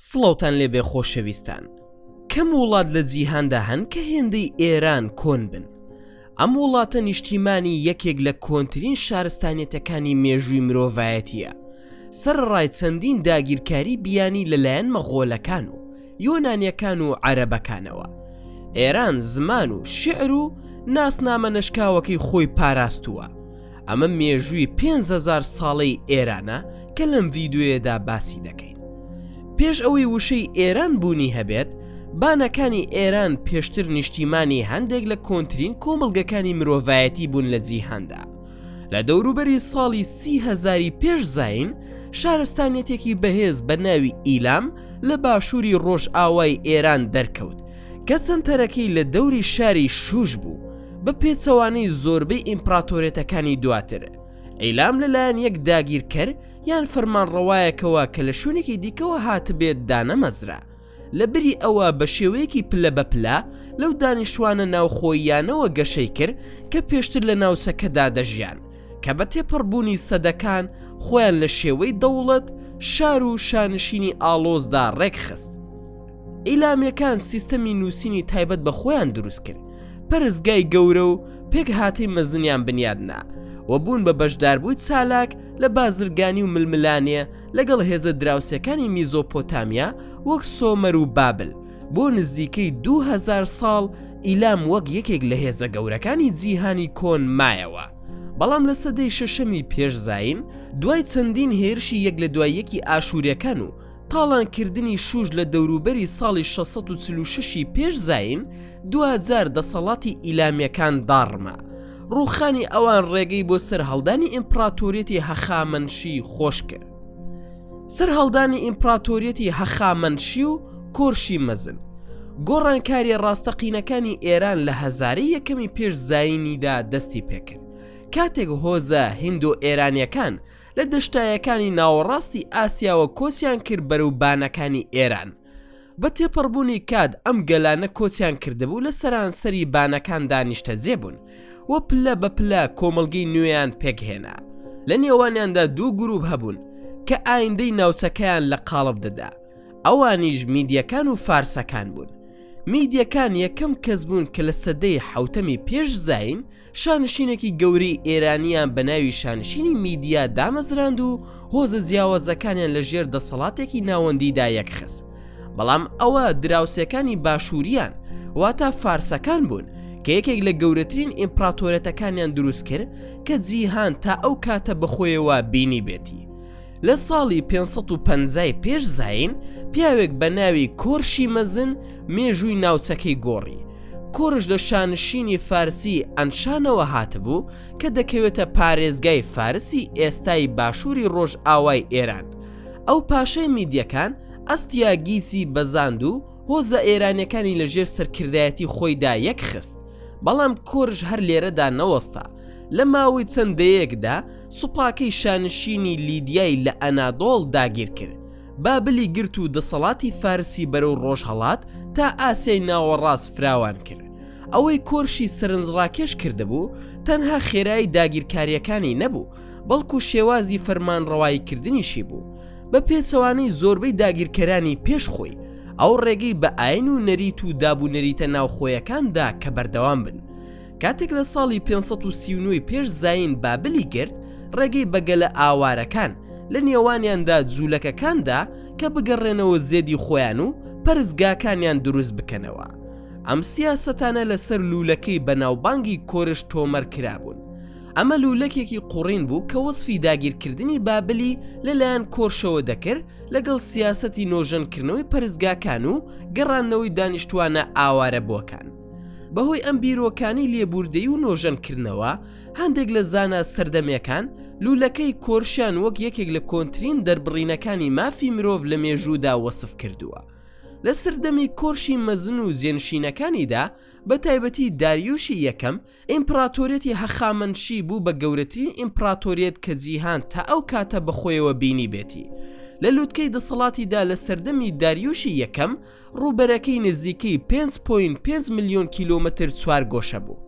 سڵاوتان لێبێ خۆشەویستان کەم وڵات لە جیهاندا هەن کە هێندەی ئێران کۆن بن ئەم وڵاتە نیشتیمانی یەکێک لە کۆنترین شارستانیەتەکانی مێژووی مرۆڤایەتیە سەر ڕای چەندین داگیرکاری بیانی لەلایەن مەغۆلەکان و یۆنانیەکان و عەرەبەکانەوە ئێران زمان و شعر و ناسنامە نەشکاوەکەی خۆی پاراستووە ئەمە مێژووی 5هزار ساڵەی ئێرانە کە لەم ڤیددیوێدا باسی دەکەین پێش ئەوەی وشەی ئێران بوونی هەبێت بانەکانی ئێران پێشتر نیشتیمانی هەندێک لە کۆنترین کۆمەڵگەکانی مرۆڤایەتی بوون لە جیهاندا لە دەوروبەری ساڵی سی هەزاری پێش زاین شارستانیەتێکی بەهێز بە ناوی ئیلام لە باشووری ڕۆژئاوای ئێران دەرکەوت کە سەنتەرەکەی لە دەوری شاری شوش بوو بە پێچەوانەی زۆربەی ئیمپراتۆرێتەکانی دواتر ئەیلام لەلایەن یەک داگیرکەر یان فەرمانڕەوایەکەوە کە لە شوێنێکی دیکەوە هاتبێت دانەمەزرا لە بری ئەوە بە شێوەیەکی پلە بە پلە لەو دانیشتوانە ناوخۆییانەوە گەشەی کرد کە پێشتر لە ناوچەکەدا دەژیان کە بە تێپەڕبوونی سەدەکان خۆیان لە شێوەی دەوڵەت شار و شانشینی ئاڵۆزدا ڕێکخست ئیلامیەکان سیستەمی نووسینی تایبەت بە خۆیان دروست کرد پەرستگای گەورە و پێکهاتەی مەزنیان بنیادنا و بوون بە بەشداربووی چالاک لە بازرگانی و ململانێ لەگەڵ هێزە دراوسێکانی میزۆپۆتامیا وەک سۆمەر و بابل بۆ نزیکەی دوو هەزار ساڵ ئیلام وەک یەکێک لە هێزە گەورەکانی جیهانی کۆن مایەوە بەڵام لە سەدەی شەشەمی پێش زین دوای چەندین هێرشی یەک لە دوای یەکی ئاشوورەکان و تاڵانکردنی شوش لە دەوروبەری ساڵی 646 پێش زین دواجار دەسەڵاتی ئیلامیەکان داڕما ڕوخانی ئەوان ڕێگەی بۆ سەرهەڵدانی ئیمپراتۆریەتی هەخامەنشی خۆش کرد سەرهەڵدانی ئیمپراتۆریەتی هەخامەنشی و کۆرشی مەزن گۆڕانکاری ڕاستەقینەکانی ئێران لە هەزاری یەکەمی پێش زینیدا دەستی پێکرد کاتێک هۆزە هندۆ ئێرانیەکان لە دەشتایەکانی ناوەڕاستی ئاسیاوە کۆچیان کرد بەرەو بانەکانی ئێران بە تێپەڕبوونی کات ئەم گەلانە کۆچیان کردبوو لە سەرانسەری بانەکاندا نیشتەجێ بوون و پلە بە پلە کۆمەلگەی نوێیان پێکهێنا لە نێوانیاندا دوو گروپ هەبوون کە ئایندەی ناوچەکەیان لە قاڵب دەدا ئەوانیش میدیەکان و فارسەکان بوون میدیەکان یەکەم کەس بوون کە لە سەدەی حوتەمی پێش زین شانشینێکی گەورەی ئێرانیان بە ناوی شانشینی میدیا دامەزراند و هۆزە جیاوازەکانیان لە ژێر دەسەڵاتێکی ناوەندیدا یەکخست بەڵام ئەوە دراوسەکانی باشووریان واتا فارسەکان بوون کە یەکێک لە گەورەترین ئیمپراتۆرێتەکانیان دروست کرد کە جیهان تا ئەو کاتە بەخۆیەوە بینی بێتی لە ساڵی پێنج سەد و پەنجا ی پێش زایین پیاوێک بە ناوی کۆرشی مەزن مێژووی ناوچەکەی گۆڕی. کۆرش لە شانشینی فارسی ئەنشانەوە هاتبوو کە دەکەوێتە پارێزگای فارسی ئێستای باشووری ڕۆژئاوای ئێران. ئەو پاشای میدیەکان ئەستیاگیسی بەزاند و هۆزە ئێرانیەکانی لە ژێر سەرکردایەتی خۆیدا یەکخست. بەڵام کۆرش هەر لێرەدا نەوەستا. لە ماوەی چەند دەیەیەکدا، سوپاکەی شانشینی لیدیای لە ئەنادۆڵ داگیر کرد، بابلی گرت و دەسەڵاتی فارسی بەرەو ڕۆژهەڵات تا ئاسیای ناوەڕاست فراوان کرد. ئەوەی کۆرشی سەرنجڕاکێش کردبوو، تەنها خێرایی داگیرکارییەکانی نەبوو، بەڵکو شێوازی فەرمانڕەواییکردنیشی بوو. بە پێچەوانەی زۆربەی داگیرکەرانی پێش خۆی، ئەو ڕێگەی بە ئایین و نەریت و دابونەریتە ناوخۆیەکان دا کە بەردەوام بن، کاتێک لە ساڵی 539 پێش زین بابلی گرت ڕێگەی بەگەلە ئاوارەکان لە نێوانیاندا جوولەکەکاندا کە بگەڕێنەوە زێدی خۆیان و پەرزگاکانیان دروست بکەنەوە ئەم سیاسەتانە لەسەر لوولەکەی بەناوبانگی کۆرش تۆمەر کرابوون ئەمە لوولەکێکی قوڕین بوو کە وەصفی داگیرکردنی بابلی لەلایەن کۆرشەوە دەکرد لەگەڵ سیاسەتی نۆژەنکردنەوەی پەرزگاکان و گەڕاندنەوەی دانیشتوانە ئاوارە بۆکان بەهۆی ئەم بیرۆکانی لێبوردەی و نۆژەنکردنەوە هەندێک لە زانا سەردەمەکان لوولەکەی کۆرشیان وەک یەکێک لە کۆنترین دەربڕینەکانی مافی مرۆڤ لە مێژوودا وەسف کردووە لە سەردەمی کۆرشی مەزن و جێنشینەکانیدا بە تایبەتی داریوشی یەکەم ئیمپڕاتۆریەتی هەخامەنشی بوو بە گەورەترین ئیمپڕاتۆریەت کە جیهان تا ئەو کاتە بەخۆیەوە بینیبێتی. لە لووتکەی دەسەڵاتیدا لە سەردەمی داریوشی یەکەم، ڕووبەرەکەی نزیکەی پێنج پۆینت پێنج ملیۆن کیلۆمەتر چوارگۆشە بوو.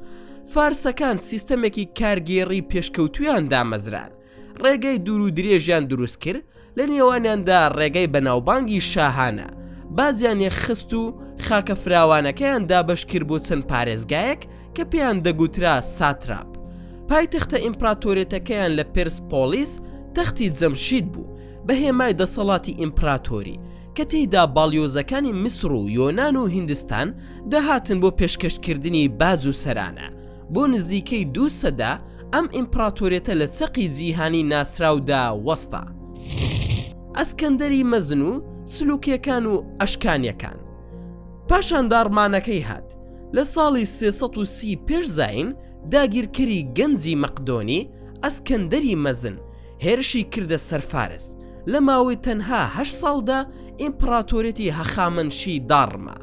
فارسەکان سیستەمێکی کارگێڕی پێشکەوتوویان دامەزراند، ڕێگەی دوور و درێژیان دروست کرد لە نێوانیاندا ڕێگەی بەناوبانگی شاهانە بازیانێ خست و خاکە فراوانەکەیان دابش کرد بۆ چەند پارێزگایەک کە پێیان دەگوترا ساتراپ پایتەختە ئیمپراتۆرێتەکەیان لە پرس پۆلیس تەختی جەمشید بوو بە هێمای دەسەڵاتی ئیمپراتۆری کە تێیدا باڵیۆزەکانی میسر و یۆناان و هندستان دەهاتن بۆ پێشکەشکردنی باز و سەرانە بۆ نزیکەی دوو سەدە ئەم ئیمپراتۆرێتە لە چەقی جیهانی ناسراودا وەستا ئەسکەندەری مەزن و سلوکەکان و ئەشکانیەکان پاشان داڕمانەکەی هات لە ساڵی 330 پێش زین داگیرکەری گەنجی مەقدۆنی ئەسکەندەری مەزن هێرشی کردە سەرفارس لە ماوەی تەنها هە ساڵدا ئیمپراتۆرێتی هەخامەنشی داڕما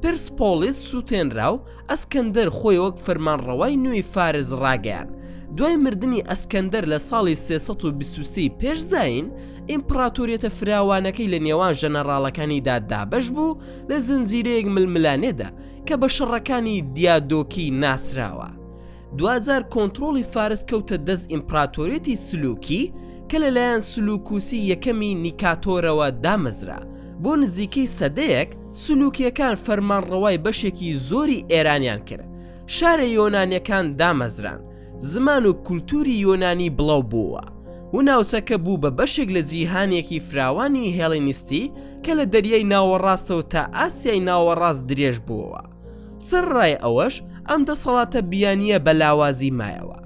پێرسپۆڵیس سووتێنرا و ئەسکەندەر خۆی وەک فەرمانڕەوای نوێی فارس ڕاگەیان. دوای مردنی ئەسکەندەر لە ساڵی 323 پێش زایین، ئیمپڕاتۆریەتە فراوانەکەی لە نێوان ژەنەڕاڵەکانیدا دابەش بوو لە زنجیرەیەک ململانێدا کە بە شەڕەکانی دیادۆکی ناسراوە. دواجار کۆنترۆڵی فارس کەوتە دەست ئیمپراتۆریەتی سلوکی کە لەلایەن سلوکوسی یەکەمی نیکاتۆرەوە دامەزرا، بۆ نزیکەی سەدەیەک سلوکییەکان فەرمانڕەوای بەشێکی زۆری ئێرانیان کرد، شارە یۆنانیەکان دامەزران، زمان و کولتوری یۆنانی بڵاو بووە، و ناوچەکە بوو بە بەشێک لە جیهانێکی فراوانی هێڵینیستی کە لە دەریای ناوەڕاستەوە تا ئاسیای ناوەڕاست درێژ بووە. سەرڕای ئەوەش ئەم دەسەڵاتە بیانیە بە لاوازی مایەوە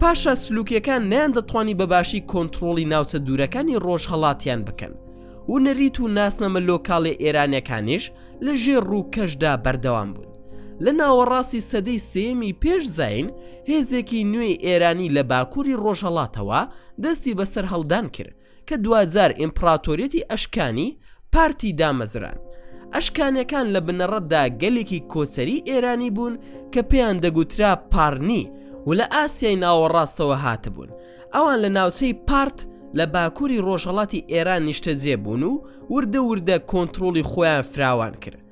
پاشا سلوکەکان نیان دەتوانی بەباشی کۆنتترۆڵی ناوچە دوورەکانی ڕۆژهڵاتیان بکەن و نەریت و ناسنەمە لۆکاڵی ئێرانەکانیش لە ژێر ڕووکەشدا بەردەوام بوون لە ناوەڕاستی سەدەی سێمی پێش زین هێزێکی نوێی ئێرانی لە باکووری ڕۆژهڵاتەوە دەستی بەسەر هەڵدان کرد کە دواجار ئیمپڕاتۆریەتی ئەشکانی پارتی دامەزران. ئەشکانەکان لە بنەڕەتدا گەلێکی کۆچەری ئێرانی بوون کە پێیان دەگوترا پارنی و لە ئاسیای ناوەڕاستەوە هاتبوون. ئەوان لە ناوچەی پارت لە باکووری ڕۆژهەڵاتی ئێران نیشتەجێ بوون و وردە وردە کۆنترۆڵی خۆیان فراوان کرد.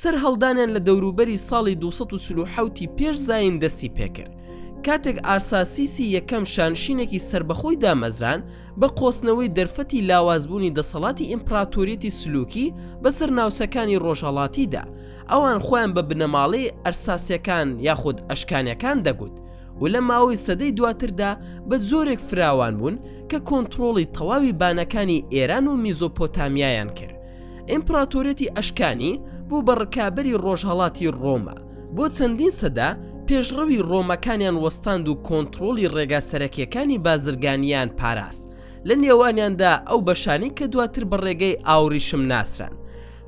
سەرهەڵدانیان لە دەوروبەری ساڵی دوو سەد و چل و حەوت ی پێش زایین دەستی پێکرد، کاتێک ئارساسیسی یەکەم شانشینێکی سەربەخۆی دامەزراند بە قۆستنەوەی دەرفەتی لاوازبوونی دەسەڵاتی ئیمپراتۆریەتی سلوکی بەسەر ناوچەکانی ڕۆژهەڵاتیدا ئەوان خۆیان بە بنەماڵەی ئەرساسیەکان یاخود ئەشکانیەکان دەگوت و لە ماوەی سەدەی دواتردا بە جۆرێک فراوان بوون کە کۆنتڕۆڵی تەواوی بانەکانی ئێران و میزۆپۆتامیایان کرد ئیمپڕاتۆریەتی ئەشکانی بوو بە ڕکابەری ڕۆژهەڵاتی ڕۆما بۆ چەندین سەدە پێشڕەوی ڕۆمەکانیان وەستاند و کۆنتڕۆڵی ڕێگا سەرەکیەکانی بازرگانیان پاراست لە نێوانیاندا ئەو بەشانەی کە دواتر بە ڕێگەی ئاوریشم ناسران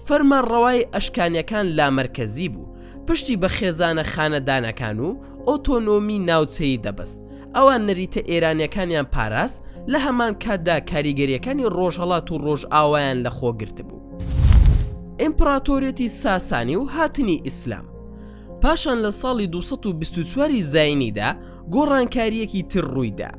فەرمانڕەوای ئەشکانیەکان لامەرکەزی بوو پشتی بە خێزانە خانەدانەکان و ئۆتۆنۆمی ناوچەیی دەبەست، ئەوان نەریتە ئێرانیەکانیان پاراست، لە هەمان کاتدا کاریگەریەکانی ڕۆژهەڵات و ڕۆژئاوایان لە خۆ گرتبوو. ئیمپڕاتۆریەتی ساسانی و هاتنی ئیسلام. پاشان لە ساڵی دوو سەد و بیست و چوار ی زاینیدا گۆڕانکاریەکی تر ڕوویدا،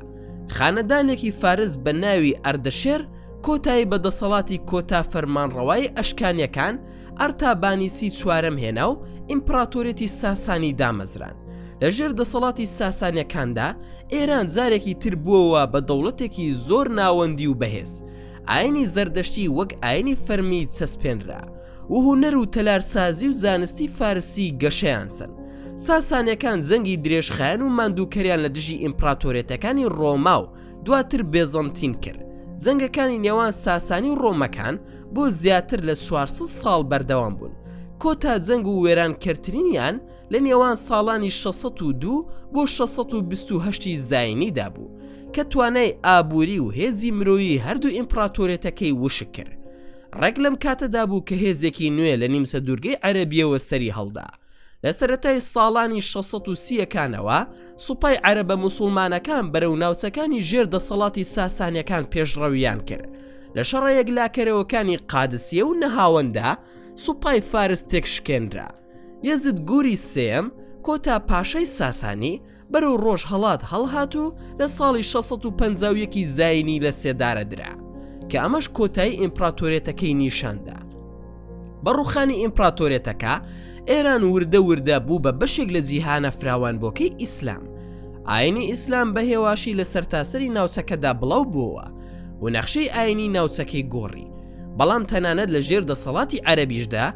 خانەدانێکی فارس بە ناوی ئەردەشێر کۆتایی بە دەسەڵاتی کۆتا فەرمانڕەوای ئەشکانیەکان، ئەرتابانیسی چوارەم هێنا و ئیمپڕاتۆریەتی ساسانی دامەزراند. لە ژێر دەسەڵاتی ساسانیەکاندا، ئێران جارێکی تر بووەوە بە دەوڵەتێکی زۆر ناوەندی و بەهێز. ئاینی زەردەشتی وەک ئاینی فەرمی چەسپێنرا و هونەر و تەلارسازی و زانستی فارسی گەشەیان سەند. ساسانیەکان جەنگی درێژخایەن و ماندووکەریان لە دژی ئیمپڕاتۆریەتەکانی ڕۆما و دواتر بێزەنتین کرد. جەنگەکانی نێوان ساسانی و ڕۆمەکان بۆ زیاتر لە چوار سەد ساڵ بەردەوام بوون، کۆتا جەنگ و وێرانکەرترینیان لە نێوان ساڵانی شەش سەد و دوو بۆ شەش سەد و بیست و هەشت ی زاینیدا بوو، کە توانای ئابووری و هێزی مرۆیی هەردوو ئیمپڕاتۆریەتەکەی وشک کرد. ڕێک لەم کاتەدا بوو کە هێزێکی نوێ لە نیمچە دوورگەی عەرەبییەوە سەریهەڵدا، لە سەرەتای ساڵانی 630 ەکانەوە سوپای عەرەبە مسلمانەکان بەرەو ناوچەکانی ژێر دەسەڵاتی ساسانیەکان پێشڕەویان کرد لە شەڕە یەکلاکەرەوەکانی قادسیە و نەهاوەندا سوپای فارس تێکشکێنرا یەزد گوری سێم کۆتا پاشای ساسانی بەرەو ڕۆژهەڵات هەڵهات و لە ساڵی شەش سەد و پەنجا و یەک ی زاینی لە سێدارە درا، کە ئەمەش کۆتایی ئیمپراتۆریەتەکەی نیشان دا. بە ڕووخانی ئیمپراتۆریەتەکە، ئێران وردە وردە بوو بە بەشێک لە جیهانە فراوانبووەکەی ئیسلام. ئاینی ئیسلام بە هێواشی لە سەرتاسەری ناوچەکەدا بڵاو بووەوە و نەخشەی ئاینی ناوچەکەی گۆڕی، بەڵام تەنانەت لە ژێر دەسەڵاتی عەرەبیشدا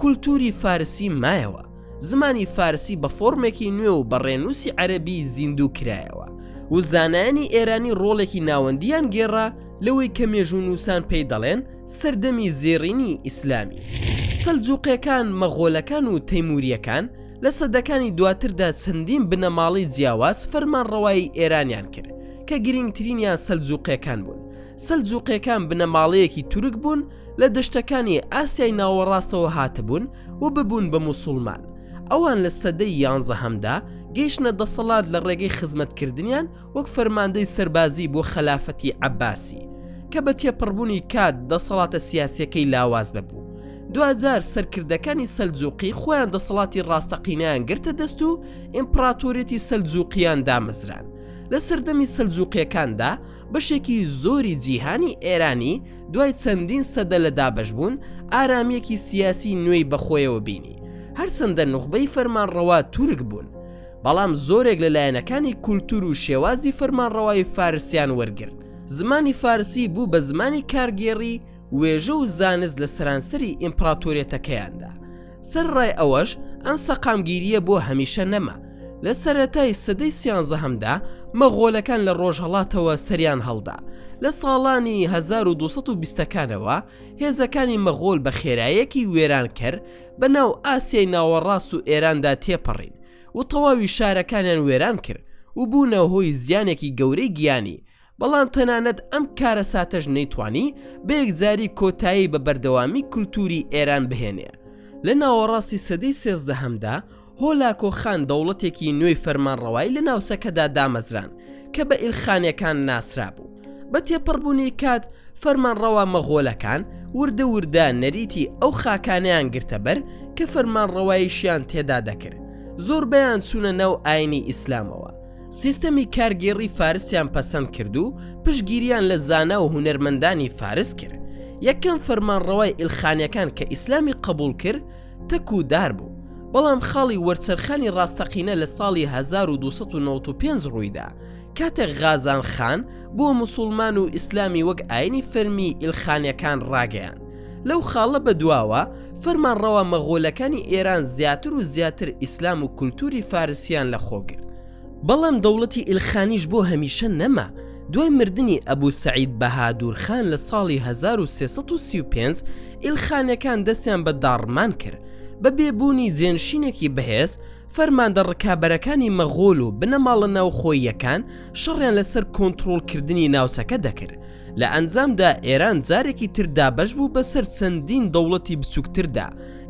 کولتووری فارسی مایەوە. زمانی فارسی بە فۆرمێکی نوێ و بە ڕێنووسی عەرەبی زیندوو کرایەوە و زانایانی ئێرانی ڕۆڵێکی ناوەندیان گێڕا لەوەی کە مێژوونووسان پێی دەڵێن سەردەمی زێڕینی ئیسلامی. سەلجووقییەکان، مەغۆلەکان و تەیموورییەکان لە سەدەکانی دواتردا چەندین بنەماڵەی جیاواز فەرمانڕەوایی ئێرانیان کرد کە گرینگترینیان سەلجووقییەکان بوون. سەلجووقییەکان بنەماڵەیەکی تورک بوون لە دەشتەکانی ئاسیای ناوەڕاستەوە هاتبوون و ببوون بە موسوڵمان ئەوان لە سەدەی یانزەهەمدا گەیشتە دەسەڵات لە ڕێگەی خزمەتکردنیان وەک فەرماندەی سەربازی بۆ خەلافەتی عەباسی کە بە تێپەڕبوونی کات دەسەڵاتە سیاسەکەی لاواز ببوو دواجار سەرکردەکانی سەلجوقی خۆیان دەسەڵاتی ڕاستەقینیان گرتە دەست و ئیمپراتۆریەتی سەلجوقییان دامەزران لە سەردەمی سەلجوقیەکاندا بەشێکی زۆری جیهانی ئێرانی دوای چەندین سەدە لە دابەشبوون، ئارامییەکی سیاسی نوێی بەخۆیەوە بینی، هەرچەندە نوخبەی فەرمانڕەوا تورک بوون، بەڵام زۆرێک لە لایەنەکانی کولتوور و شێوازی فەرمانڕەوایی فارسیان وەرگرت، زمانی فارسی بوو بە زمانی کارگێڕی وێژە و زانست لە سەرانسەری ئیمپڕاتۆریەتەکەیاندا. سەرڕای ئەوەش ئەم سەقامگیرییە بۆ هەمیشە نەما، لە سەرەتای سەدەی سیانزەهەمدا مەغۆلەکان لە ڕۆژهەڵاتەوە سەریان هەڵدا، لە ساڵانی 1220ەکانەوە هێزەکانی مەغۆل بە خێرایەکی وێرانکەر بە ناو ئاسیای ناوەڕاست و ئێراندا تێپەڕین و تەواوی شارەکانیان وێران کرد و بوونە هۆی زیانێکی گەورەی گیانی بەڵام تەنانەت ئەم کارەساتەش نەیتوانی بە یەکجاری کۆتایی بە بەردەوامی کولتوری ئێران بهێنێ لە ناوەڕاستی سەدەی سێزدەهەمدا هۆلاکۆ خان دەوڵەتێکی نوێی فەرمانڕەوای لە ناوچەکەدا دامەزران کە بە ئیلخانەکان ناسرابوو بە تێپەڕبوونی کات فەرمانڕەوا مەغۆلەکان وردە وردە نەریتی ئەو خاکانیان گرتەبەر کە فەرمانڕەوایشیان تێدا دەکرد زۆربەیان چوونە ناو ئاینی ئیسلامەوە سیستەمی کارگێڕی فارسیان پەسەند کرد و پشگیریان لە زانا و هونەرمەندانی فارس کرد یەکەم فەرمانڕەوای ئیلخانیەکان کە ئیسلامی قبول کرد تەک و دار بوو بەڵام خاڵی وەرچەرخانی ڕاستەقینە لە ساڵی 1995 ڕوویدا کاتێک غازان خان بۆ مسلمان و ئیسلامی وەک ئاینی فەرمی ئیلخانیەکان ڕاگەیان لەو خاڵە بە دواوە فەرمانڕەوا مەغۆلەکانی ئێران زیاتر و زیاتر ئیسلام و کولتوری فارسیان لە خۆ گرت بەڵام دەوڵەتی ئیلخانیش بۆ هەمیشە نەما دوای مردنی ئەبوو سەعید بەهادور خان لە ساڵی 1335 ئیلخانەکان دەستیان بە داڕمان کرد بە بێبوونی جێنشینێکی بەهێز فەرماندە ڕکابەرەکانی مەغۆل و بنەماڵە ناوخۆییەکان شەڕیان لەسەر کۆنتترۆلکردنی ناوچەکە دەکرد لە ئەنجامدا ئێران جارێکی تر دابەش بوو بەسەر چەندین دەوڵەتی بچووکتردا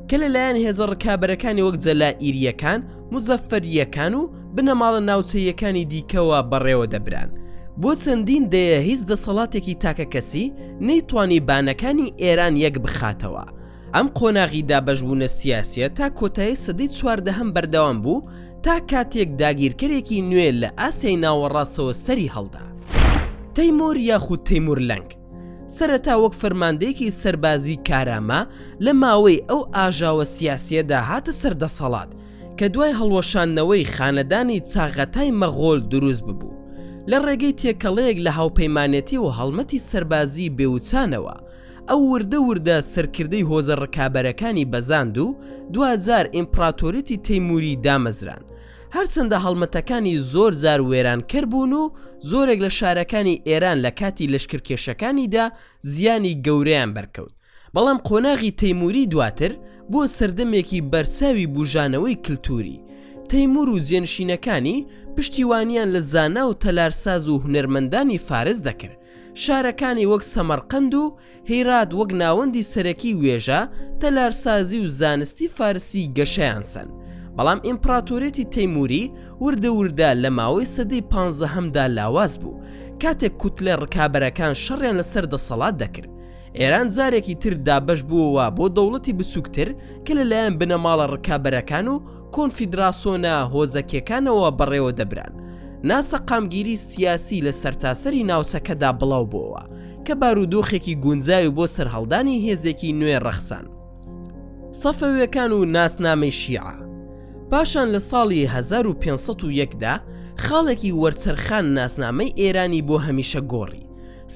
کە لەلایەن هێزە ڕکابەرەکانی وەک جەلائیرییەکان مزەفەرییەکان و بنەماڵە ناوچەییەکانی دیکەوە بەڕێوە دەبران بۆ چەندین دەیە هیچ دەسەڵاتێکی تاکەکەسی نەیتوانی بانەکانی ئێران یەک بخاتەوە ئەم قۆناغی دابەشبوونە سیاسیە تا کۆتایی سەدەی چواردەهەم بەردەوام بوو تا کاتێک داگیرکەرێکی نوێ لە ئاسیای ناوەڕاستەوە سەری هەڵدا. تەیمۆر یاخود تەیمور لەنگ، سەرەتا وەک فەرماندەیەکی سەربازی کارامە لە ماوەی ئەو ئاژاوە سیاسیەدا هاتە سەر دەسەڵات کە دوای هەڵوەشاندنەوەی خانەدانی چاغەتای مەغۆل دروست ببوو لە ڕێگەی تێکەڵەیەک لە هاوپەیمانێتی و هەڵمەتی سەربازی بێوچانەوە ئەو وردە وردە سەرکردەی هۆزە ڕکابەرەکانی بەزاند و دواجار ئیمپڕاتۆریەتی تەیمووری دامەزران. هەرچەندە هەڵمەتەکانی زۆر جار وێرانکەر بوون و زۆرێک لە شارەکانی ئێران لە کاتی لەشکرکێشەکانیدا زیانی گەورەیان بەرکەوت، بەڵام قۆناغی تەیمووری دواتر بووە سەردەمێکی بەرچاوی بووژانەوەی کلتووری. تەیموور و جێنشینەکانی پشتیوانیان لە زانا و تەلارساز و هونەرمەندانی فارس دەکرد. شارەکانی وەک سەمەرقەند و هیرات وەک ناوەندی سەرەکی وێژە، تەلارسازی و زانستی فارسی گەشەیان سەند. بەڵام ئیمپڕاتۆریەتی تەیمووری وردە وردە لە ماوەی سەدەی پانزەهەمدا لاواز بوو، کاتێک کوتلە ڕکابەرەکان شەڕیان لەسەر دەسەڵات دەکرد. ئێران جارێکی تر دابەش بووەوە بۆ دەوڵەتی بچووکتر کە لەلایەن بنەماڵە ڕکابەرەکان و کۆنفیدراسۆنە هۆزەکیەکانەوە بەڕێوە دەبران، ناسەقامگیری سیاسی لە سەرتاسەری ناوچەکەدا بڵاو بۆوە کە بارودۆخێکی گونجاوی بۆ سەرهەڵدانی هێزێکی نوێ ڕەخسان. سەفەوێکان و ناسنامەی شیعە پاشان لە ساڵی 1501 دا خاڵێکی وەرچەرخان ناسنامەی ئێرانی بۆ هەمیشە گۆڕی،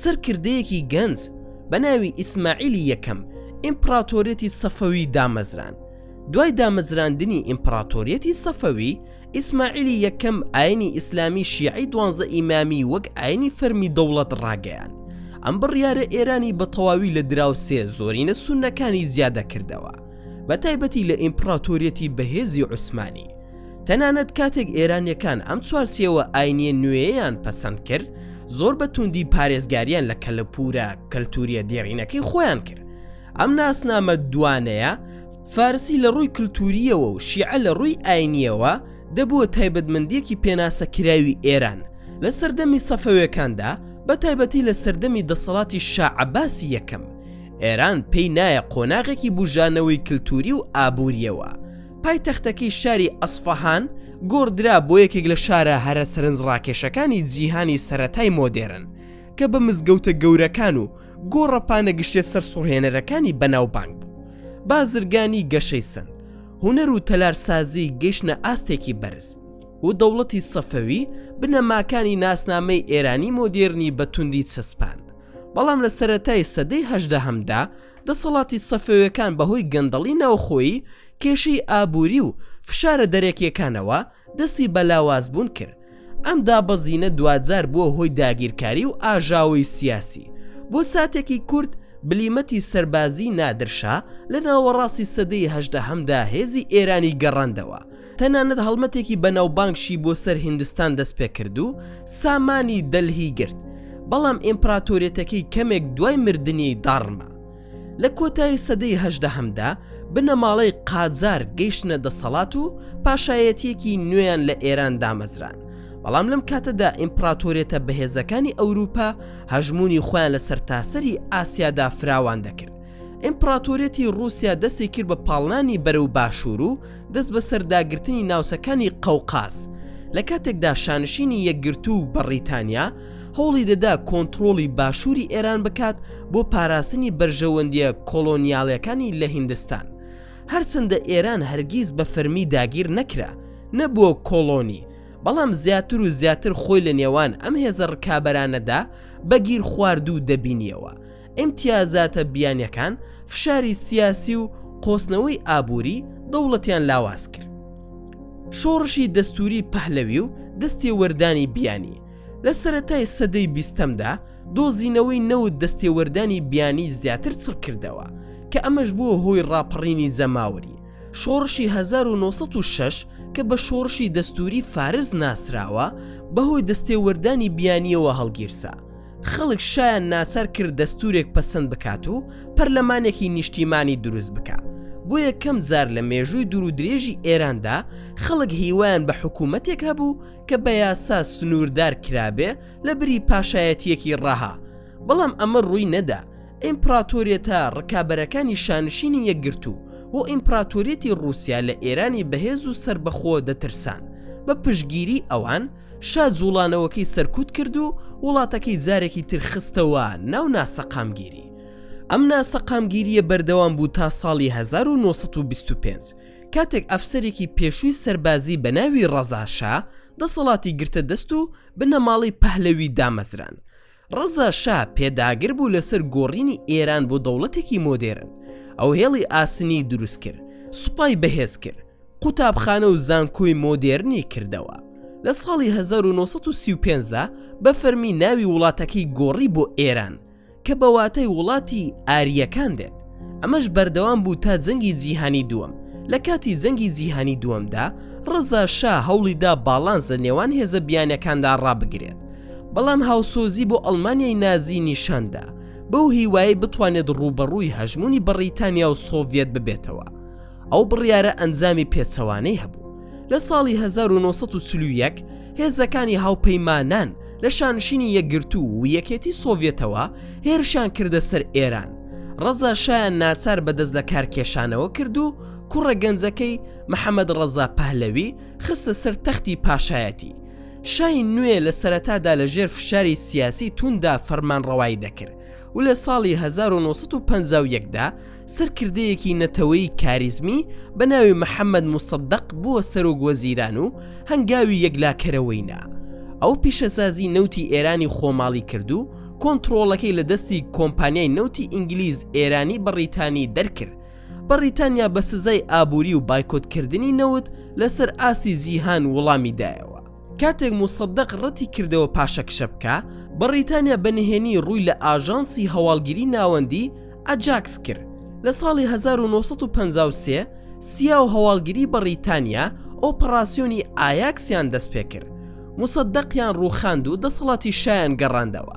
سەرکردەیەکی گەنج بە ناوی ئیسماعیلی یەکەم ئیمپڕاتۆریەتی سەفەوی دامەزراند، دوای دامەزراندنی ئیمپڕاتۆریەتی سەفەوی، ئیسماعیلی یەکەم ئاینی ئیسلامی شیعەی دوانزە ئیمامی وەک ئاینی فەرمی دەوڵەت ڕاگەیاند. ئەم بڕیارە ئێرانی بە تەواوی لە دراوسێ زۆرینە سوننەکانی زیادە کردەوە، بە تایبەتی لە ئیمپڕاتۆریەتی بەهێزی عوسمانی. تەنانەت کاتێک ئێرانییەکان ئەم چوارچێوە ئاینییە نوێیەیان پەسەند کرد، زۆر بە توندی پارێزگارییان لە کەلەپوورە کەلتوورییە دێڕینەکەی خۆیان کرد، ئەم ناسنامە دوانەیە فارسی لە ڕووی کللتوریەوە و شیعە لە ڕووی ئاینیەوە دەبووە تایبەتمەندیەکی پێناسە کراوی ئێران لە سەردەمی سەفەوێکاندا بە تایبەتی لە سەردەمی دەسەڵاتی شاعباسی یەکەم ئێران پێی نایە قۆناغێکی بژانەوەی کللتوری و ئابووریەوە پای تەختەکەی شاری ئەسفەهان گۆڕدرا بۆ یەکێک لە شارە هەرە سەرنج ڕاکێشەکانی جیهانی سەتای مۆدێرن کە بە مزگەوتە گەورەکان و گۆڕەپانە گشتێ سەرسوڕهێنەرەکانی بەناوبانگ بوو بازرگانی گەشەی سند هوەر و تەلارسازی گەشتە ئاستێکی بەرز و دەوڵەتی سەفەوی بنەماکانی ناسنامەی ئێرانی مۆدێرنی بە توندی چەسپاند بەڵام لە سەتای سەدەی هەشدە هەمدا دەسەڵاتی سەفەوەکان بەهۆی گەندەڵی ناوخۆیی کێشەی ئابووری و فشارە دەرەکیەکانەوە دەستی بە لاوازبوون کرد. ئەم دابەزینە دواجار بووە هۆی داگیرکاری و ئاژاوەی سیاسی. بۆ ساتێکی کورت بلیمەتی سەربازیی نادر شا لە ناوەڕاستی سەدەی هەژدەهەمدا هێزی ئێرانی گەڕاندەوە. تەنانەت هەڵمەتێکی بەناوبانگشی بۆ سەر هیندستان دەست پێ کرد و سامانی دەلهی گرت. بەڵام ئیمپراتۆریەتەکەی کەمێک دوای مردنی داڕما. لە کۆتایی سەدەی هەژدەهەمدا بنەماڵەی قاجار گەیشتنە دەسەڵات و پاشایەتیەکی نوێیان لە ئێران دامەزران بەڵام لەم کاتەدا ئیمپراتۆرێتە بەهێزەکانی ئەوروپا هەژمونی خۆیان لە سەرتاسەری ئاسیادا فراوان دەکرد ئیمپراتۆریەتی رووسیا دەستی کرد بە پاڵنانی بەرە و باشوور و دەست بە سەرداگرتنی ناوچەکانی قەوقاز لە کاتێکدا شانشینی یەکگرتوو بەڕیتانیا هەوڵی دەدا کۆنتڕۆڵی باشووری ئێران بکات بۆ پاراستنی بەرژەوەندییە کۆڵۆنیاڵەکانی لە هیندستان. هەرچەندە ئێران هەرگیز بە فەرمی داگیر نەکرا، نەبووە کۆڵۆنی، بەڵام زیاتر و زیاتر خۆی لە نێوان ئەم هێزە ڕکابەرانەدا بە گیرخواردوو دەبینییەوە. ئیمتیازاتە بیانییەکان فشاری سیاسی و قۆستنەوەی ئابووری دەوڵەتیان لاواز کرد. شۆڕشی دەستووری پەهلەوی و دەستێوەردانی بیانی، لە سەرەتای سەدەی بیستەمدا دۆزینەوەی نەوت دەستێوەردانی بیانی زیاتر چڕ کردەوە کە ئەمەش بووە هۆی ڕاپەڕینی جەماوەری شۆڕشی 1906 کە بە شۆڕشی دەستوری فارس ناسراوە بەهۆی دەستێوەردانی بیانیەوە هەڵگیرسا خەڵک شایان ناچار کرد دەستورێک پەسەند بکات و پەرلەمانێکی نیشتیمانی دروست بکە بۆ یەکەم جار لە مێژووی دوور و درێژی ئێراندا خەڵک هیوایان بە حکوومەتێک هەبوو کە بە یاسا سنووردار کرابێ لە بری پاشایەتیەکی ڕەها بەڵام ئەمە ڕووی نەدا ئیمپراتۆریەتە ڕکابەرەکانی شانشینی یەکگرتوو و ئیمپراتۆریەتی رووسیا لە ئێرانی بەهێز و سربەخۆ دەترسان بە پشگیری ئەوان شا جوڵانەوەکەی سەرکوت کرد و وڵاتەکەی جارێکی ترخستەوە ناو ناسەقامگیری ئەم ناسەقامگیریە بەردەوام بوو تا ساڵی 1925 کاتێک ئەفسەرێکی پێشووی سەربازی بە ناوی ڕەزا شا دەسەڵاتی گرتە دەست و بنەماڵەی پەهلەوی دامەزراند. ڕەزا شا پێداگر بوو لەسەر گۆڕینی ئێران بۆ دەوڵەتێکی مۆدێرن. ئەو هێڵی ئاسنی دروست کرد، سوپای بەهێز کرد، قوتابخانە و زانکۆی مۆدێرنی کردەوە. لە ساڵی هەزار و نۆ سەد و سی و پێنج دا بە فەرمی ناوی وڵاتەکەی گۆڕی بۆ ئێران. کە بە واتای وڵاتی ئارییەکان دێت ئەمەش بەردەوام بوو تا جەنگی جیهانی دووەم لە کاتی جەنگی جیهانی دووەمدا ڕزا شا هەوڵیدا باڵانس لە نێوان هێزە بیانەکاندا ڕابگرێت بەڵام هاوسۆزی بۆ ئەڵمانیای نازی نیشاندا بەو هیوای بتوانێت ڕووبەڕووی هەژمونی بەڕیتانیا و سۆڤەت ببێتەوە ئەو بڕیارە ئەنجامی پێچەوانەی هەبوو لە ساڵی 1940 هێزەکانی هاوپەیمانان لە شانشینی یەکگرتو و یەکێتی سۆڤێتەوە هێرشان کردە سەر ئێران ڕەزا شایان ناچار بەدەست لە کارکێشانەوە کرد و کوڕە گەنجەکەی محەممەد ڕەزا پەهلەوی خستە سەر تەختی پاشایەتی شای نوێ لە سەرەتادا لە ژێر فشاری سیاسی توندا فەرمان ڕەوایی دەکرد و لە ساڵی 1950دا سەرکردەیەکی نەتەوەی کاریزمی بە ناوی محەممەد موسەدەق بووە سەرۆک وەزیران و هەنگاوی یەکلاکەرەوەی نا ئەو پیشەسازی نەوتی ئێرانی خۆماڵی کرد و کۆنتترۆڵەکەی لە دەستی کۆمپانیای نەوتی ئینگلیز ئێرانی بەڕیتانی دەرکرد بەڕیتانیا بە سزای ئابووری و بایکۆتکردنی نەوت لەسەر ئاستی جیهان وڵامی دایەوە کاتێک موسەدەق ڕەتی کردەوە پاشەکشە بکا، بەڕیتانیا بە نهێنی ڕووی لە ئاژانسی هەواڵگیری ناوەندی، ئەجاکس، کرد. لە ساڵی هەزار و نۆ سەد و پەنجا و سێ، سیا و هەواڵگیری بەڕیتانیا ئۆپەڕاسیۆنی ئایاکس-یان دەستپێکرد. موسەدەقیان ڕووخاند و دەسەڵاتی شایان گەڕاندەوە.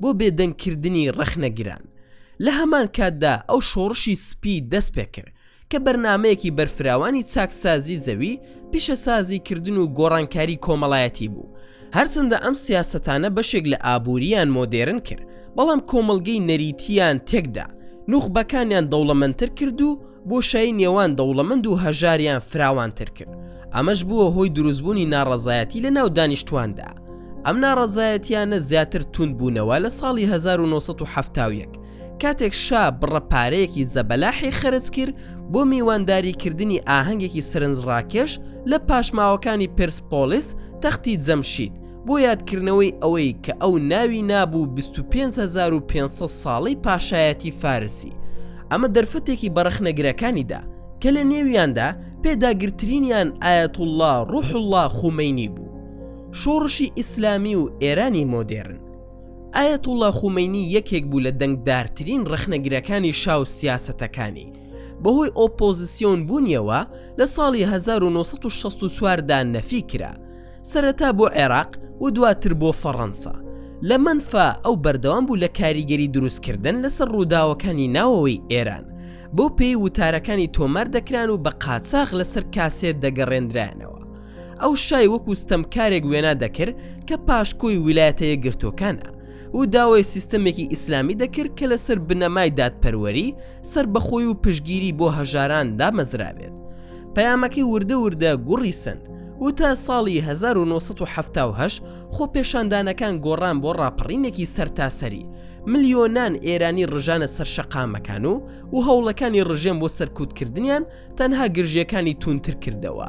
بۆ بێدەنگ کردنی ڕەخنەگران. لە هەمان کاتدا ئەو شۆڕشی سپی دەست پێکرد کە بەرنامەیەکی بەرفراوانی چاکسازی زەوی، پیشەسازی کردن و گۆڕانکاری کۆمەڵایەتی بوو. هەرچەندە ئەم سیاسەتانە بەشێک لە ئابوورییان مۆدێرن کرد، بەڵام کۆمەڵگەی نەریتییان تێکدا، نوخبەکانیان دەوڵەمەندتر کرد و، بۆشایی نێوان دەوڵەمەند و هەژاریان فراوانتر کرد، ئەمەش بووە هۆی دروستبوونی ناڕەزایەتی لە ناو دانیشتواندا، ئەم ناڕەزایەتیانە زیاتر توند بوونەوە لە ساڵی هەزار و نۆ سەد و حەفتا و یەک کاتێک شا بڕە پارەیەکی زەبەلاحی خەرج کرد بۆ میوانداری کردنی ئاهەنگێکی سەرنجڕاکێش لە پاشماوەکانی پێرسپۆڵیس تەختی جەمشید بۆ یادکردنەوەی ئەوەی کە ئەو ناوی نابوو 25500 ساڵەی پاشایەتی فارسی ئەمە دەرفەتێکی بەڕەخنەگرەکانیدا کە لە نێویاندا پێداگرترینیان ئاەتوڵا ڕوحله خومەینی بوو شۆڕشی ئیسلامی و ئێرانی مۆدێرن ئاەتوڵا خومەینی یەکێک بوو لە دەنگدارترین ڕەخنەگرەکانی شاو سیاسەتەکانی بەهۆی ئۆپۆزیسیۆن بوونیەوە لە ساڵی 1964دا نەفی کرا سەرەتا بۆ عێراق و دواتر بۆ فەڕەنسا لە مەنفا ئەو بەردەوام بوو لە کاریگەری دروستکردن لەسەر ڕووداوەکانی ناوەوەی ئێران بۆ پێی وتارەکانی تۆمار دەکران و بە قاچاغ لەسەر کاسێت دەگەڕێنرایانەوە ئەو شای وەکو ستەمکارێک وێنا دەکرد کە پاشکۆی ویلایەتە یەکگرتووەکانە و داوای سیستەمێکی ئیسلامی دەکرد کە لەسەر بنەمای دادپەروەری سەربەخۆی و پشگیری بۆ هەژاران دامەزرابێت. پەیامەکەی وردە وردە گوڕی سەند و تا ساڵی 1978 خۆپێشاندانەکان گۆڕان بۆ ڕاپەڕینێکی سەرتاسەری، ملیۆنان ئێرانی ڕژانە سەر شەقامەکان و و هەوڵەکانی ڕژێم بۆ سەرکوتکردنیان تەنها گرژییەکانی تووندتر کردەوە.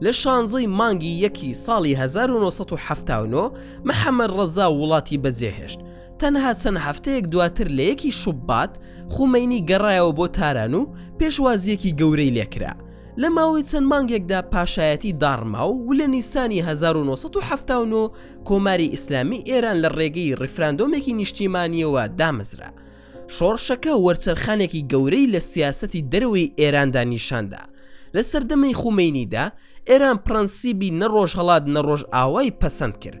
لە شانزە ی مانگی یەکی ساڵی 1979 محەمەد ڕەزا وڵاتی بەجێهێشت، تەنها چەند هەفتەیەک دواتر لە یەکی شوبات خومەینی گەڕایەوە بۆ تاران و پێشوازیەکی گەورەی لێکرا لە ماوەی چەند مانگێکدا پاشایەتی داڕما و و لە نیسانی 1970 کۆماری ئیسلامی ئێران لە ڕێگەی ڕیفراندۆمێکی نیشتیمانیەوە دامەزرا شۆڕشەکە وەرچەرخانێکی گەورەی لە سیاسەتی دەرەوەی ئێراندا نیشاندا لە سەردەمی خومەینیدا ئێران پرەنسیبی نە ڕۆژهڵات نە ڕۆژئاوای پەسەند کرد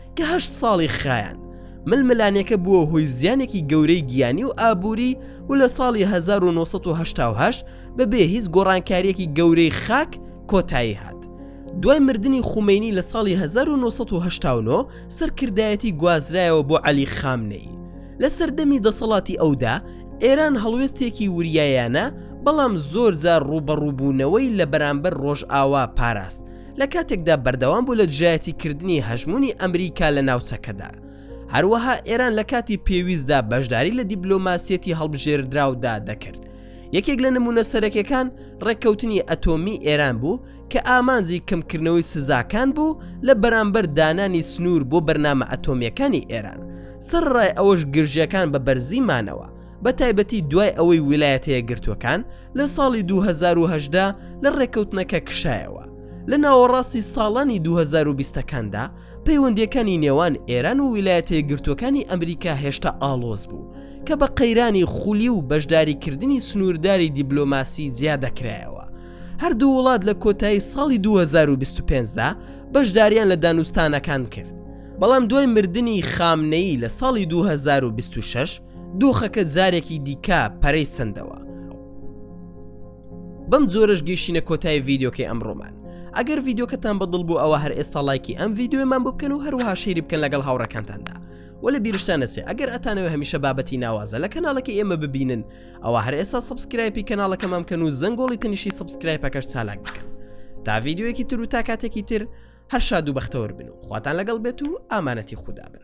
کە هەشت ساڵی خایاند ململانێکە بووە هۆی زیانێکی گەورەی گیانی و ئابووری و لە ساڵی 1970 بەبێ هیچ گۆڕانکاریەکی گەورەی خاک کۆتایی هات دوای مردنی خومینی لە ساڵی 1970 سەرکردایەتی گوازرایەوە بۆ عەلی خامنەی لە سەردەمی دەسەڵاتی ئەودا ئێران هەڵوێستێکی وریایانە بەڵام زۆر زار ڕوبەڕووبوونەوەی لە بەرامبەر ڕۆژئاوا پاراست لە کاتێکدا بەردەوام بوو لە دژایەتی کردنی هەژمونی ئەمریکا لە ناوچەکەدا هەروەها ئێران لە کاتی پێویستدا بەشداری لە دیبلۆماسیەتی هەڵبژێردراودا دەکرد یەکێک لە نمونە سەرەکەکان ڕێککەوتنی ئەتۆمی ئێران بوو کە ئامانجی کەمکردنەوەی سزاکان بوو لە بەرامبەر دانانی سنوور بۆ بەرنامە ئەتۆمیەکانی ئێران سەر ڕای ئەوەش گرژەکان بە بەرزی مانەوە بە تایبەتی دوای ئەوەی ویلایەتەیە گرتوەکان لە ساڵی 2018 لە ڕێککەوتنەکە کشایەوە لە ناوەڕاستی ساڵانی 2020ەکاندا پەیوەندیەکانی نێوان ئێران و ویلایەتە گرتوەکانی ئەمریکا هێشتا ئاڵۆز بوو کە بە قەیرانی خولی و بەشداریکردنی سنوورداری دیبلۆماسی جیا دەکرایەوە هەردوو وڵات لە کۆتایی ساڵی 2025دا بەشداریان لە دانوستانەکان کرد بەڵام دوای مردنی خامنەی لە ساڵی 2026 دۆخەکە جارێکی دیکە پەرەی سندەوە بەم جۆرەش گەیشتینە کۆتای ڤیددیوکەی ئەمڕۆمان ئەگەر ڤیددیوکەتان بەدڵ بوو ئەوە هەر ئێستا لایکی ئەم ڤیددیومان بۆ بکەن و هەروها شیری بکەن لەگەڵ هاوڕەکانتاندا وە لە بیرشتانەسێ ئەگەر ئەتانەوە هەمیشە بابەتی ناوازە لە کەناڵەکە ئێمە ببینن ئەوە هەر ئێستا سبسکرایپی کەناڵەکەمان کەن و زەنگۆڵی تەنیشی سبسکرایپەکەش چالاک بکەن تا ڤیددیوەکی تر و تا کاتێکی تر هەر شاد و بەختەوەر بن و خواتان لەگەڵ بێت و ئامانەتی خوددا بن